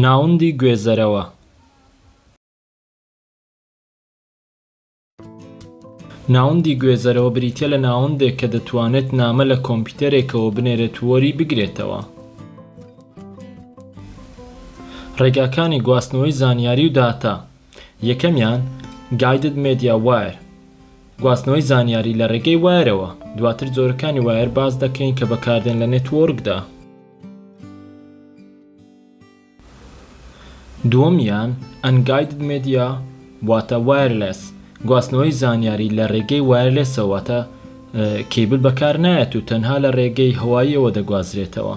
ناوەندی گوێزەرەوە ناوەندی گوێزەرەوە بریتیە لە ناوەندێک کە دەتوانێت نامە لە کۆمپیوتەرێکەوە بنێرێت و وەری بگرێتەوە. ڕێگاکانی گواستنەوەی زانیاری و داتا یەکەمیان، Guided Media Wire، گواستنەوەی زانیاری لە ڕێگەی وایەرەوە، دواتر جۆرەکانی وایەر باس دەکەین کە بەکاردێن لە نێتوۆرکدا. دووەمیان، Unguided Media، واتە وایەرلێس، گواستنەوەی زانیاری لە ڕێگەی وایەرلێسەوە واتە کێبل بەکار نایەت و تەنها لە ڕێگەی هەواییەوە دەگوازرێتەوە.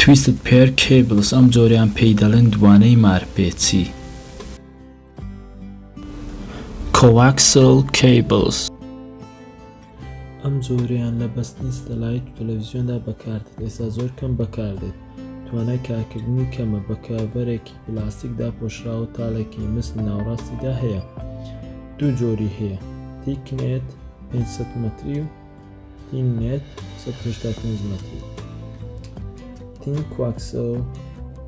Twisted Pair Cables ئەم جۆریان پێی دەڵێن دوانەی مارپێچی Coaxial Cables ئەم جۆریان لە بەستنی ستەلایت و تەلەڤیزیۆندا بەکاردێت ئێستا زۆر کەم بەکاردێت توانای کارکردنی کەمە بە کاڤەرێکی پلاستیک داپۆشراوە تاڵێکی مس لە ناوەڕاستیدا هەیە دوو جۆری هەیە تیکنێت 500 مەتری و تین نێت سەد و هەشتا و پێنج مەتری تین کواکسەو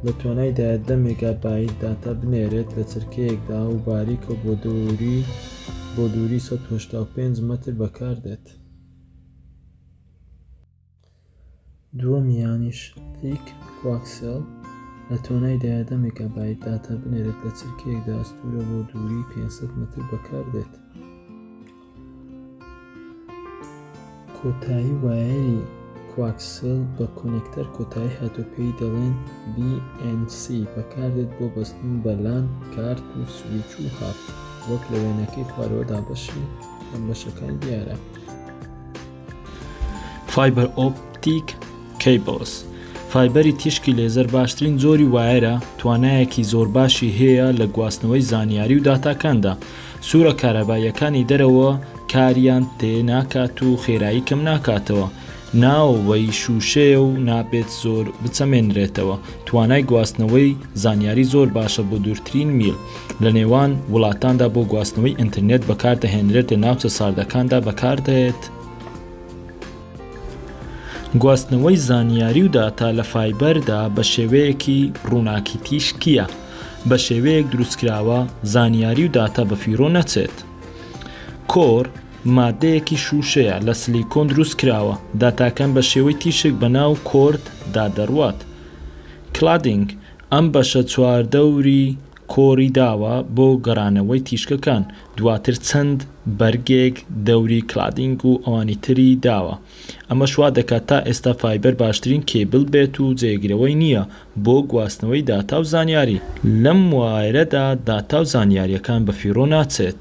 لە توانایدا دە مێگابایت داتا بنێرێت لە چرکەیەکدا و باریکە بۆ دووری بۆ دووری 1950 متر بەکاردێت. دووەمیانیش تیک کواکسێڵ لە تۆنای دایە دە مێگابایت داتا بنێرێت لە چرکەیەکدا ئەستوورە بۆ دووری پێنج سەد مەتر بەکاردێت. کۆتایی وایەری کواکسێڵ بە کۆنێکتەر کۆتایی هاتوو پێی دەڵێن BNC بەکاردێت بۆ بەستن بە لان کارت و سویچ و هاب وەک لە وێنەکەی خوارەوەدا بەشی بەشەکان دیارە. Fiber Optic Cables، فایبەری تیشکی لێزەر باشترین جۆری وایەرە توانایەکی زۆر باشی هەیە لە گواستنەوەی زانیاری و داتاکاندا سوورە کارەباییەکانی دەرەوە کاریان تێ ناکات و خێرایی کەم ناکاتەوە ناوەوەی شووشەیە و نابێت زۆر بچەمێنرێتەوە توانای گواستنەوەی زانیاری زۆر باشە بۆ دوورترین میل لە نێوان وڵاتاندا بۆ گواستنەوەی ئینترنێت بەکاردەهێنرێت لە ناوچە ساردەکاندا بەکاردێت. گواستنەوەی زانیاری و داتا لە فایبەردا بە شێوەیەکی ڕووناکی تیشکییە بە شێوەیەک دروستکراوە زانیاری و داتا بەفیڕۆ نەچێت. کۆر، ماددەیەکی شووشەیە لە سلیکۆن دروست کراوە، داتاکان بە شێوەی تیشک بە ناو کۆرد دا دەڕوات. Cladding، ئەم بەشە چواردەوری کۆری داوە بۆ گەڕانەوەی تیشکەکان، دواتر چەند بەرگێک دەوری کلادینگ و ئەوانی تری داوە، ئەمەش وا دەکات تا ئێستا فایبەر باشترین کێبل بێت و جێگرەوەی نییە بۆ گواستنەوەی داتا و زانیاری. لەم وایرەدا داتا و زانیارییەکان بە فیڕۆ ناچێت.